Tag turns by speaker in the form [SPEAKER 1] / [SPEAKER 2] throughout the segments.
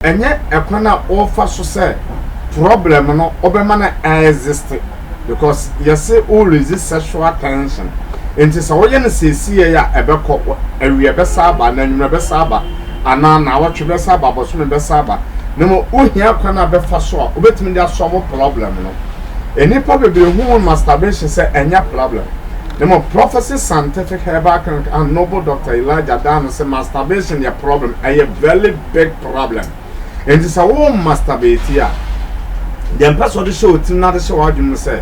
[SPEAKER 1] Ɛnyɛ ɛkwan a ɔfa so sɛ problem no ɔbɛma no a exist because yɛse wo resist sexual tension nti sɛ woyɛ no seesei a ɛbɛkɔ, awia bɛsa aba, na anwummerɛ bɛsa aba, anaa naawɔtwe bɛsa aba, bosome bɛsa aba, na mmom wohia kwan a bɛfa so a wobɛtumi de asɔlve problem no. Nnipa bebree hu masturbation sɛ ɛnyɛ problem, na mmom Prophecy Scientific Herbal Clinic and Noble Doctor Elijah daa no sɛ masturbation yɛ problem, ɛyɛ very. big problem nti sɛ wo masturbate a deɛ mpɛ sɛ ɔde hyɛ wo tirim na ade hyɛ w'adwene mu sɛ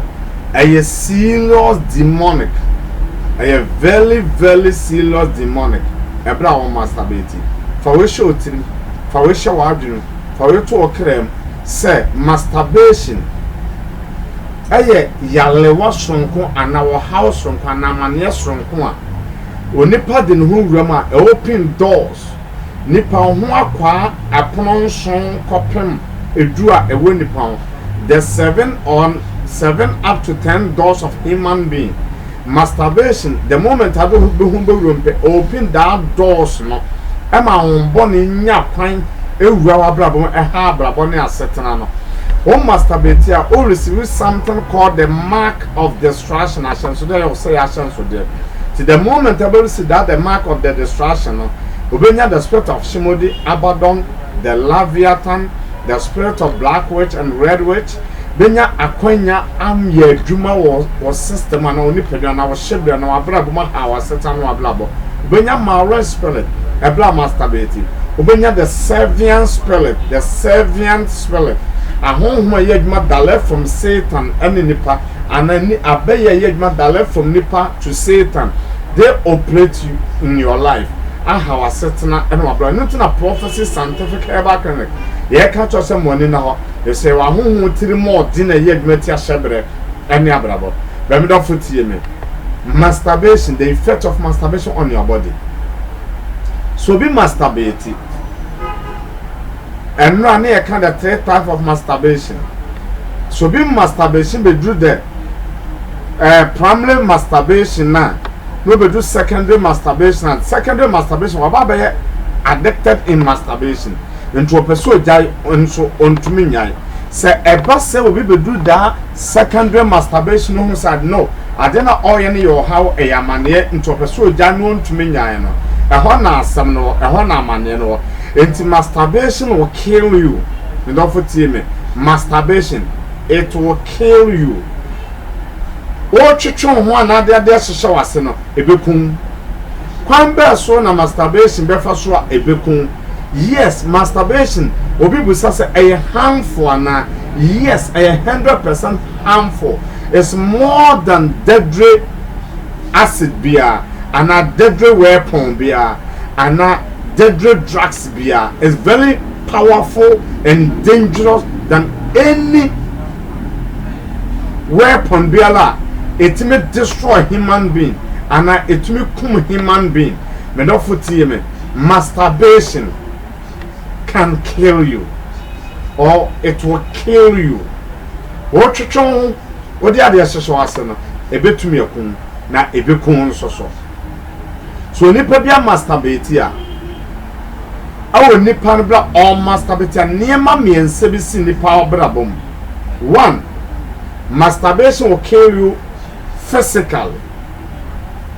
[SPEAKER 1] ɛyɛ serious demonic ɛyɛ very very serious demonic ɛberɛ a wo masturbate fa wei hyɛ wo tirim fa wei hyɛ w'adwene mu fa wei to wo kra mu sɛ masturbation ɛyɛ yalewa soronko anaa ɔhaw soronko anaa amaneɛ soronko a onipa de ne ho wura mu a ɛwɔ pin doors Nnipa ho akwaa ɛpono nson kɔpem edu a ɛwɔ nnipa ho, the seven or seven up to ten doors of human being, masturbation, the moment a bɛ ho bɛwuram pɛ, open that doors no, ɛma ahombɔne nya kwan ɛwura w'abrabɔ mu, ɛha abrabɔ ne asetena no. Wo masturbate a, wo receive something called the mark of destruction, ahyɛnsodeɛ yɛ ɔsɛeɛ ahyɛnsodeɛ. Nti the moment ɛbɛsi that the mark of the destruction no, obɛnya the spirit of Shimodi, Abaddon, the Leviathan, the spirit of black witch and red witch, bɛnya akwanya amyɛ adwuma wɔ wɔ system anaa wɔ nipadua anaa wɔ hyɛbrɛ anaa wɔ abrabɔ mu ahaw aseta ne wɔ abrabɔ. Wobenya Maoris Spelling, bere a masturbate. Wobenya the Servian Spelling, the Servian Spelling, ahonhom a ɛyɛ adwuma direct from Satan ne nipa, anaa ni abɛyɛ a ɛyɛ adwuma direct from nipa to Satan, they operate you in your life, aha w'asetena ne w'abrabɔ. Ɛno nti na Prophecy Scientific Herbal Clinic yɛka kyerɛ wo sɛ mo ani nna hɔ, efisɛ sɛ yɛwɔ ahonhom tirimɔɔden a ɛyɛ adwuma tia hyɛbrɛ ne abrabɔ. Bra me dɔfo tie me. Masturbation, the effect of masturbation on your body. So obi masturbate. Ɛnura ne yɛ ka the three types of masturbation. So obi masturbation beduru the uh, primary masturbation na na obeduru secondary masturbation and secondary masturbation waba abɛyɛ addicted in masturbation. Nti ɔpɛ sɛ ogyae nso ɔntumi nyae. Sɛ ɛba sɛ obi beduru daa Secondary masturbation homicide no adeɛ na ɔyɛ no yɛ ɔhaw ɛyɛ amaneɛ nti ɔpɛ sɛ ɔgyae na ɔntumi nyae no ɛhɔ na asɛm no wɔ ɛhɔ na amaneɛ no wɔ nti masturbation will kill you me dɔfo tie me masturbation it will kill you wotwetwe wo ho anaa de adeɛ hyehyɛ w'ase no. Ebekum. Kwan bɛɛ so na masturbation bɛfa so a ebekum? Yes, masturbation, obi bisa sɛ ɛyɛ harmful anaa? Yes, ɛyɛ hundred percent harmful. It's more than deadly acid biara, anaa deadly weapon biara, anaa deadly drugs biara. It's very powerful and dangerous than any weapon biara a ɛtumi destroy human being anaa ɛtumi kum human being me dɔfo tie me masturbation can kill you or it will kill you wotwetwe ho wode adeɛ hyehyɛ ase no ɛbɛtumi akum na ɛbɛkum nso so so nipa bi a masturbate a wɔ nnipa no bra ɔmastabetia nneɛma mmiɛnsa bi si nnipa abrabɔ mu one masturbation will kill you physically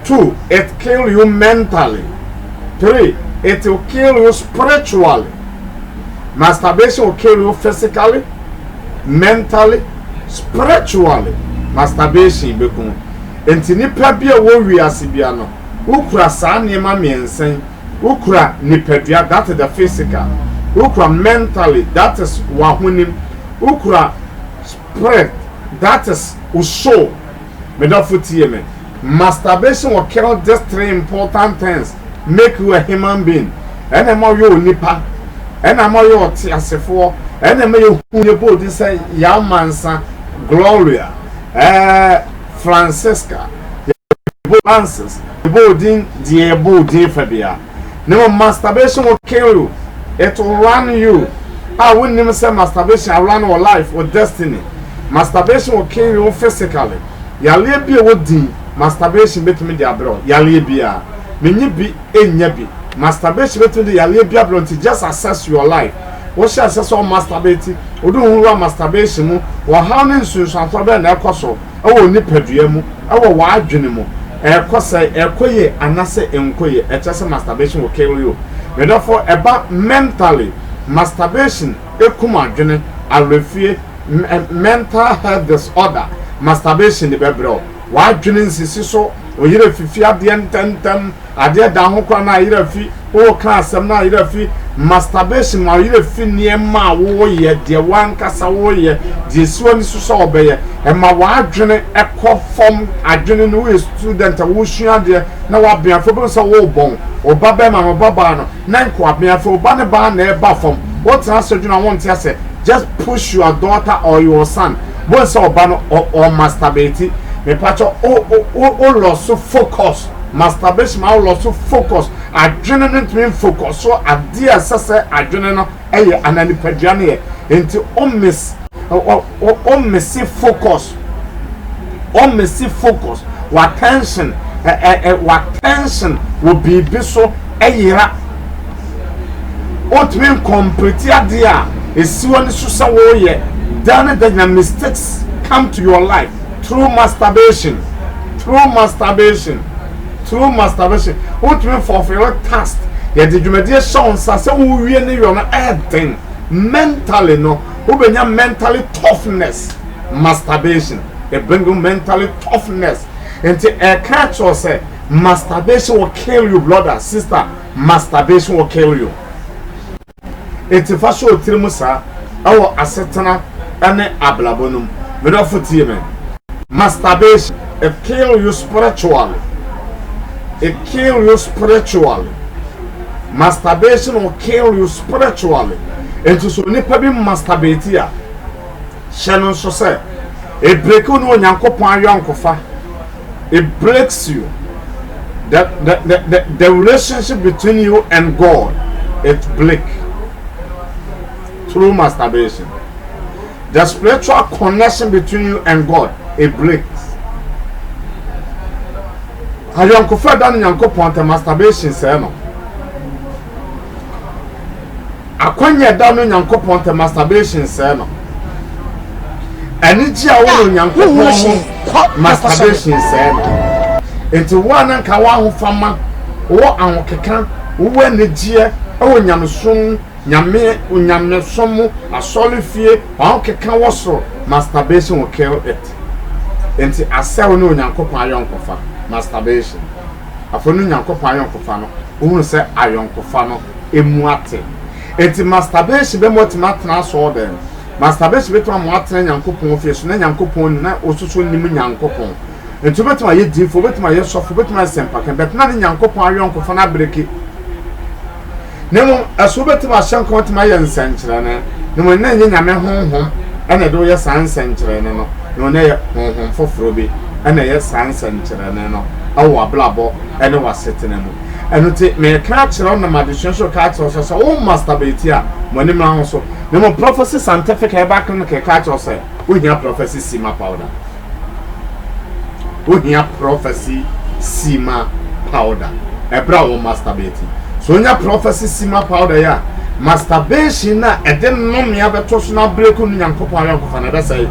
[SPEAKER 1] two it kill you mentally three it will kill you spiritually masturbation will kill you physically mentally spiritually masturbation bɛkum nti nnipa bi a wɔ wiase bia no wokura saa nneɛma mmiɛnsa Wo kura nipadua, that is the physical, wo kura mentally, that is w'ahonim, wo kura spirit, that is wo soul. Me dɔfo tie me, masturbation will kill these three important things, make you a human being, ɛna ɛma ɔyɛ onipa, ɛna ɛma ɔyɛ ɔteasefoɔ, ɛna ɛma yɛ hu yɛ bɔ odin sɛ Yamansa, Gloria, ɛɛ eh, Francisca, yɛ bɔ Francis. Boo din deɛ boo din fɛ bia. Na mmom masturbation wo kill you, it will run you a wo nnim sɛ masturbation a run wo life, wo destiny. Masturbation will kill you wo physically. Yareɛ bi a ɛwɔ din masturbation bɛtumi de abrɛ wo yareɛ biara. Me nyi bi nnya bi. Masturbation bɛtumi de yareɛ bi abrɛ wo nti just assess your life. Wo hyɛ aseɛ sɛ wo masturbate, wo de wo ho wura masturbation mu, ɔhaw ne nsunsuansoɔ bɛn na ɛkɔ so? wɔ wo nipadua mu, wɔ w'adwene mu, ɛkɔ sɛn, ɛkɔ yie anase ɛnkɔ yie, ɛkyerɛ sɛ masturbation will kill you. Me dɔfo, ɛba mentally, masturbation ɛkum adwene, awerɛfie, mental health disorder, masturbation de bɛbrɛ wo, w'adwene nsisi so, wo yere fifi adeɛ ntɛntɛm, Adeɛ da ho koraa na ayerɛ fi woka asɛm na ayerɛ fi masturbation ma ayerɛ fi nneɛma a woyɛ deɛ wankasa woyɛ deɛ si w'ani so sɛ ɔbɛyɛ ɛma w'adwene ɛkɔ fam adwene no woyɛ student a wosua adeɛ na wabɛn afei wobɛhu sɛ wobɔn wo ba bɛrima no wo ba baa no na nka wabɛn afei wo ba ne baa na ɛba fam wotena ase dwene a wonte ase just push your daughter or your son wobɛhu sɛ ɔba no ɔ ɔ masturbate mepakyɛ wo wo wo lɔso focus. Masturbation ma wo loss focus, adwene no ntumi nfocusɔ adeɛ a ɛsɛ sɛ adwene no yɛ anaa nipadua no yɛ, nti wo misse focus, wo misse focus, w'attention w'attention wɔ biribi so yera, wontumi ncomplete adeɛ a ɛsi w'ani so sɛ woreyɛ, daa ne da nya mistakes come to your life. Through masturbation Through masturbation Through masturbation Wotumi fulfil task Yɛde dwumadie hyɛ wo nsa sɛ wowie ne yɔ no ɛyɛ den Mentally no wobɛnya mentally toughness Masturbation it bring you mentally toughness Nti ɛka kyerɛ wo sɛ masturbation will kill you brother, sister Masturbation will kill you Enti fa hyɛ wo tirim saa, wɔ asetena ne abrabɔ no mu. Me dɔfo tie me. Masturbation, it kill you spiritually, it kill you spiritually, masturbation will kill you spiritually, enti sɛ onipa bi masturbate a, hyɛ no nso sɛ, ɛbreki wo ne Onyankopɔn ayɔnkofa. it breaks you the the the the, the relationship between you and God it break through masturbation the spiritual connection between you and God it breaks ayɔnkofa da no nyankopɔn tɛ masturbation sɛɛ no Akwannya a ɛda no Nyankopɔn ntɛ masturbation sɛɛ no Anigye a wowɔ Nyankopɔn ho masturbation sɛɛ no Enti wo a na nka w'ahofama, wowɔ ahokeka, wowɔ anigyeɛ wɔ Nyamesom mu, Nyame, Onyamesom mu, asɔrefie, w'ahokeka wɔ soro, masturbation will kill it Enti asɛ wo ne Onyankopɔn ayɔnkofa, masturbation. Afei no Nyankopɔn ayɔnkofa no, wohunu sɛ ayɔnkofa no emu ate. Enti masturbation bɛma watumi atena asɔɔdan. Masturbation bɛtumi ama watena Nyankopɔn fie so na Nyankopɔn nim na ɔsoso nim Nyankopɔn. Enti wobɛtumi ayɛ diifoɔ, wobɛtumi ayɛ sɔfo, wobɛtumi ayɛ sɛmpaka, but na ne Nyankopɔn ayɔnkofa no abreki. Na mmom ɛso wobɛtumi ahyɛ nka watumi ayɛ nsɛnkyerɛnne. Na mmom na ɛnyɛ Nyame honhom ɛna ɛde woyɛ saa nsɛnkyerɛnne no. Na mmom na ɛyɛ honhom foforɔ bi ɛna ɛyɛ saa nsɛnkyerɛnne no ɛwɔ w'abrabɔ ɛne w'asetena mu. Ɛno nti, mereka akyerɛ wo nam adesua so reka akyerɛ wo sɛ, sɛ wo masturbate a, ma w'ani mmra ho so. Na mmom Prophecy Scientific Herbal Clinic reka akyerɛ wo sɛ, wohia Prophecy Sima Powder. Wohia Prophecy Sima Powder ɛberɛ a wo masturbate. So wonya Prophecy Sima Powder yi a, masturbation no a ɛde nnome abɛto so na abreku ne Nyankopɔn ayɔnkofa no, ɛbɛsɛe.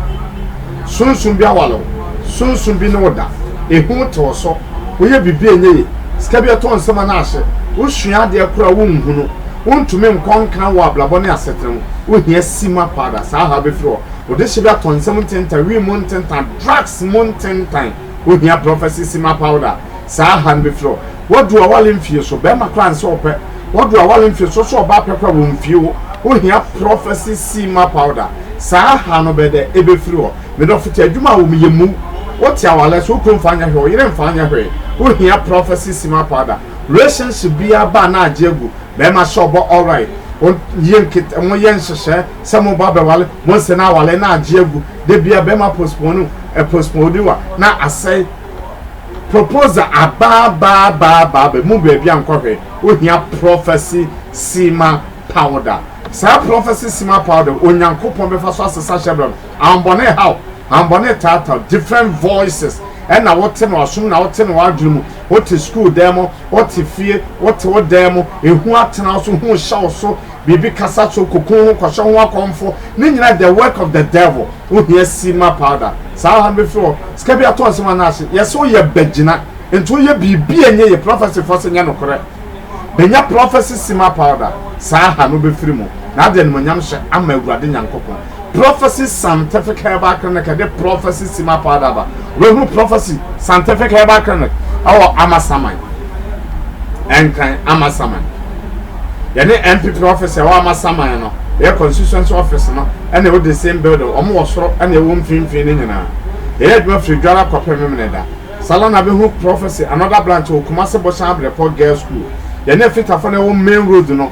[SPEAKER 1] Sunsum bi aware wo, sunsum bi ne wo da, ehu te wo so, woyɛ biribi a ɛnyɛ ye, sika bi tɔ nsam anaa ahye, wosua adeɛ koro a wonhu no, wontumi nkɔ nkan wɔ abrabɔ ne asetena mu, wohia simma paa da, saa haw bɛfiri hɔ, wo dehye bi atɔ nsam ntentan, wii mu ntentan, drugs mu ntentan, wohia prophecy simma powder, saa haw no bɛfiri hɔ. Wadu awale mfie so bɛrima koraa nsɛ ɔpɛ wadu awale mfie so sɛ ɔbaa pɛ koraa wɔ mfie hɔ ohia prophecy seema powder saa ha no bɛdɛ ebefiri hɔ medɔfo te adwuma a wɔn yɛ mu wote awale so wokunu nfa nyɛ hwɛ ɔyere nfa nyɛ hwee ohia prophecy seema powder relationship biara ba na agye agu bɛrima sɛ ɔbɔ alright wɔn yɛ nkete wɔn yɛ nhyehyɛ sɛ mo ba bɛwale wɔn sɛ na awale na agye agu debia bɛrima postpone ɛ postpone wa na asɛe proposal abaabaabaabaaba mu baabi a nkɔhwɛ ohia prophecy sima powder saa prophecy sima powder onyankopɔn bɛfa so asesa hyɛbrɛ no ahombɔne haw ahombɔne taataw different voices ɛna wote no ɔsom na wote no wadwene mu wote school dan mu wote fie wote wo dan mu ehu atena so hu hyɛw so Biribi kasa so kokoon ho kɔhyɛ ho akɔmfo ne nyina the work of the devil wo hia sima powder saa ɔha no bɛfiri hɔ sika bi atɔ nsɛm anaa ahye yɛsɛ wo yɛ bagyina nti wo yɛ biribi a nyɛ yɛ prophecy fɔ sɛ nyɛ nokorɛ bɛnya prophecy sima powder saa ha no bɛfiri mu na ade animonyam hyɛ ama awurade nyankopɔn Prɔfɛse Scientific Herbal Clinic ɛde Prɔfɛse Sima Powder aba. Wobɛhunu Prɔfɛse Scientific Herbal Clinic ɛwɔ Amasaman, Nkran, Amasaman. Yɛne NPP office ɛwɔ Amasaman no, ɛyɛ constituency office no ɛna ɛwɔ the same building, wɔn wɔ soro ɛna ɛwɔ mfimfini no nyinaa. Yɛyɛ adwuma firi Dwara kɔpem Memeneda. Saa la na wobɛhunu Prɔfɛse another branch wɔ Kumase Boshan Abirepɔ Girls School. Yɛne Afitafo no ɛwɔ main road no.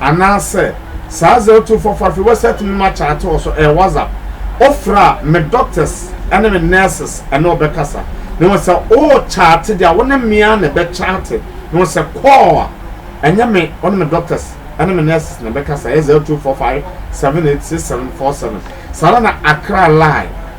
[SPEAKER 1] Anaasɛ saa adze otum fa fa fi wɛsɛɛt mu ma kyaate wɔ so, ɛyɛ WhatsApp. Ofir a, me dɔktɛs ne me nɛɛses ne wo bɛkasa. Na mbom sɛ ookyaate dze a, wo ne me ara na ebɛkyaate. Na mbom sɛ kɔɔl a, nnyɛ me wo ne me dɔktɛs ne me nɛɛses na ebɛkasa, ɛyɛ 0245 786747. Saa ara na Accra Live.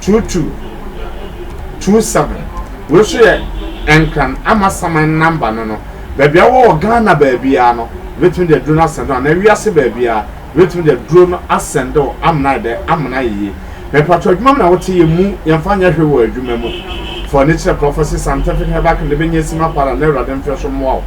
[SPEAKER 1] two two two seven wei nso yɛ Nkran Amasaman number no no baabi a wowɔ wɔ Ghana baabiara no yɛbɛtumi de aduro no asɛnde wo anaa wiase baabiara yɛbɛtumi de aduro no asɛnde wo amena ayɛ dɛ amena ayɛ yie mepatɔ adwuma mu na wote yɛ mu yɛmfa nyɛ hwee wɔ adwuma mu fɔ ne kyerɛ Prophecy Scientific Herbal Clinic bɛnya sima para na awurade mfɛ so mmoa wo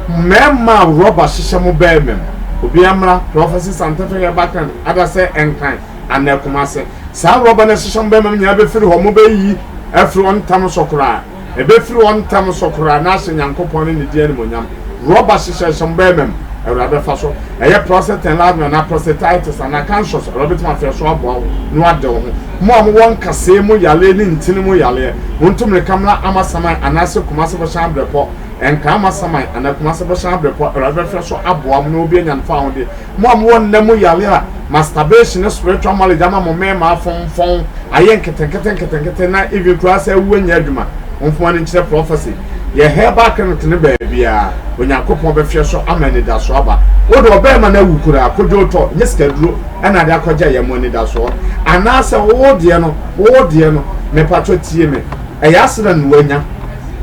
[SPEAKER 1] mmarima a rɔba hyehyɛ mo bɛrima mu obiara mmra Prophecy Scientific Herbal Clinic adasɛ Nkran anaa Kumase. Saa rɔba no ahyehyɛ mo bɛmma no nyinaa bɛfiri hɔ, mobɛyiyi afiri hɔ ntɛm so koraa. Ɛbɛfiri hɔ ntɛm so koraa na ahyɛ Nyankopɔn ne Ne din animuonyam. Rɔba hyehyɛhyɛ mo bɛmma mu, Awurade bɛfa so. Ɛyɛ prostate enlargement anaa prostatitis anaa cancerous, Awurade bɛtumi afrɛ so aboa wo na wade wo ho. Mo a mowɔ nkasɛɛ mu yareɛ ne ntini mu yareɛ, montu mmirika mmra Amasaman anaasɛ Kumase Bɔhyɛn Abrɛpɔ. Ɛnka Amasaman anaa Kumase Bɔhyɛn Abrɛpɔ, Awurade bɛfrɛ so aboa mo na wobɛnya no fawohodie. Mo a mowɔ nna mu yare a masturbation ne spiritual marriage ama mo mmarima afomfɔn, ayɛ nketenkete nketenkete na even koraa sɛ awu nyɛ adwuma, momfa mo ani nkyerɛ prophecy. Yɛ herbal clinic no baabiara. Onyankopɔn bɛhwɛ so ama anidasoɔ aba. Wo de ɔbarima no awu koraa, kodwo tɔ, nyɛ sikaduro na ade akɔgya yɛ mo anidasoɔ. Anaasɛ wo deɛ no, wo deɛ no, mepatwɔ tie me, ɛyɛ accident na wanya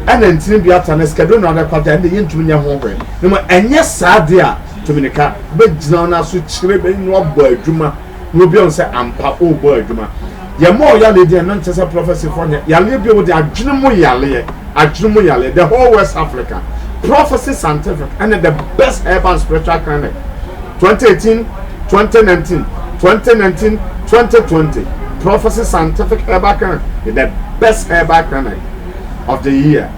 [SPEAKER 1] ɛna ntini bi ata na sikaduro na ɔde akɔgya, ɛnde yɛntumi nyɛ ho hwee. Na mmom ɛnyɛ saa deɛ a, Tumi no ka bɛgyina no aso kyerɛ bɛ no abɔ adwuma na obi ahu sɛ ampa ɔrebɔ adwuma. Yɛmmɔɔ yaleɛ din ɛno nkyɛ sɛ prɔfɛsefoɔ nyɛ yaleɛ bio, wode adwene mu yaleɛ, adwene mu yaleɛ, the whole West Africa Prophecy Scientific ɛne the best herbal and spiritual clinic 2018, 2019, 2019, 2020 Prophecy Scientific Herbal Clinic is the best herbal clinic of the year.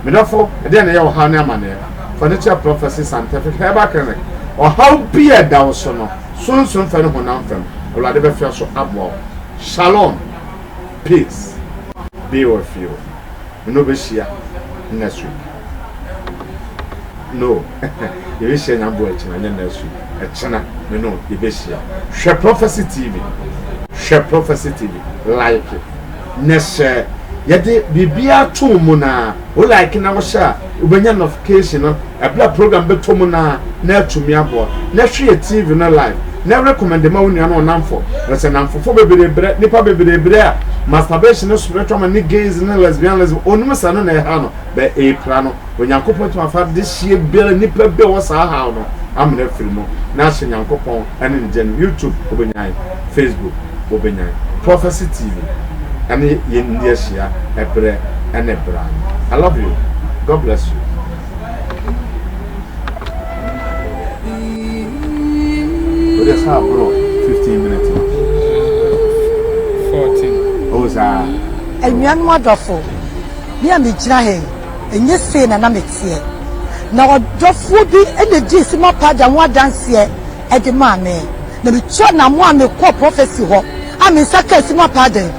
[SPEAKER 1] Medɔfo, ɛdeɛn na ɛyɛ ɔhaw ne amaneɛ? Furniture Prophecy Scientific Herbal Clinic Ɔhaw bi a ɛda wo so no, sunsum fam ne honam fam, Awurade bɛfa so aboa wo. Shalom, peace be with you. Me ne wo bɛhyia next week. No, yɛbɛhyia Nyambo akyina, nyɛ next week. Ɛkyena, me ne wo yɛbɛhyia. Hwɛ Prophecy TV. Hwɛ Prophecy TV. Like, na hyɛ. Yɛde biribiara to wo mu na. Wo like na wo share a wobɛnya nɔfication no ɛberɛ a program bɛtɔ mu naa na atumi aboa. Na hwe yɛ TV no live na recommend ma wo nua ne wo namfo na sɛ namfofo bebree brɛ nipa bebree brɛ a masturbation ne spiritual ma ne gays ne lesbianism onim sɛ ɛno na ɛha no bɛ ɛpira no Onyankopɔn atumi afa de hyeɛ biara nipa bi a ɔwɔ saa haw no amena afiri mu na ahyɛ Nyankopɔn ɛne ne gya no YouTube wobɛnya yɛ. Facebook wobenya Prophecy TV ɛne yɛn nni ahyia ɛberɛ ɛne bra no I love you God bless you. Wode saa bro 15
[SPEAKER 2] minutes no. 14. Oh saa. Anuanom adɔfo, me a megyina ha yi, ɛnyɛ sei na na meteɛ. Na ɔdɔfoɔ bi na dii Simon Pada ho adanseɛ de maa me, na mituu anammɔn a mekɔɔ Prɔfɛse hɔ a me nsa kaa sum apaaden.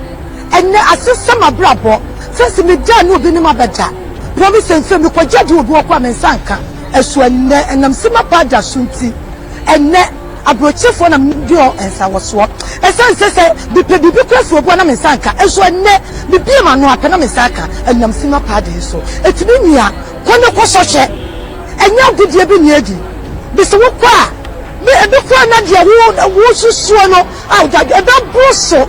[SPEAKER 2] Ɛnnɛ, ase sɛ m'abrabɔ te se meda a ne obi ne me abɛda. Bere bi sen sɛ mekogye adi wɔ obi hɔ koraa a me nsa nka so ɛnnɛ, ɛnam sum apaada so nti. Ɛnnɛ, aburokyefoɔ na medi wɔn nsawɔsoɔ. Ɛsan sɛ sɛ mepɛ biribi koraa fi obi hɔ na me nsa nka so ɛnnɛ, mebue m'ano a pɛ na me nsa aka ɛnam sum apaaden so. Ɛtumi nya. Kɔ na kɔ sɔhwɛ, ɛnyɛ agodie bi na edi, bese wo kɔ a, ne ebi koraa na deɛ wo wo susuo no a wode adwene, ɛbɛ boro so.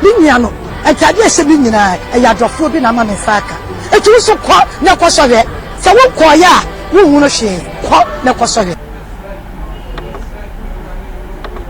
[SPEAKER 2] Me nua no, ntaadeɛ a ɛhyɛ me nyinaa, ɛyɛ adɔfoɔ bi na ama me nsa aka, enti wo nso kɔ na kɔ sɔhwɛ, sɛ wo nkɔɔeɛ a, wo nhunu hwee, kɔ na kɔ sɔhwɛ.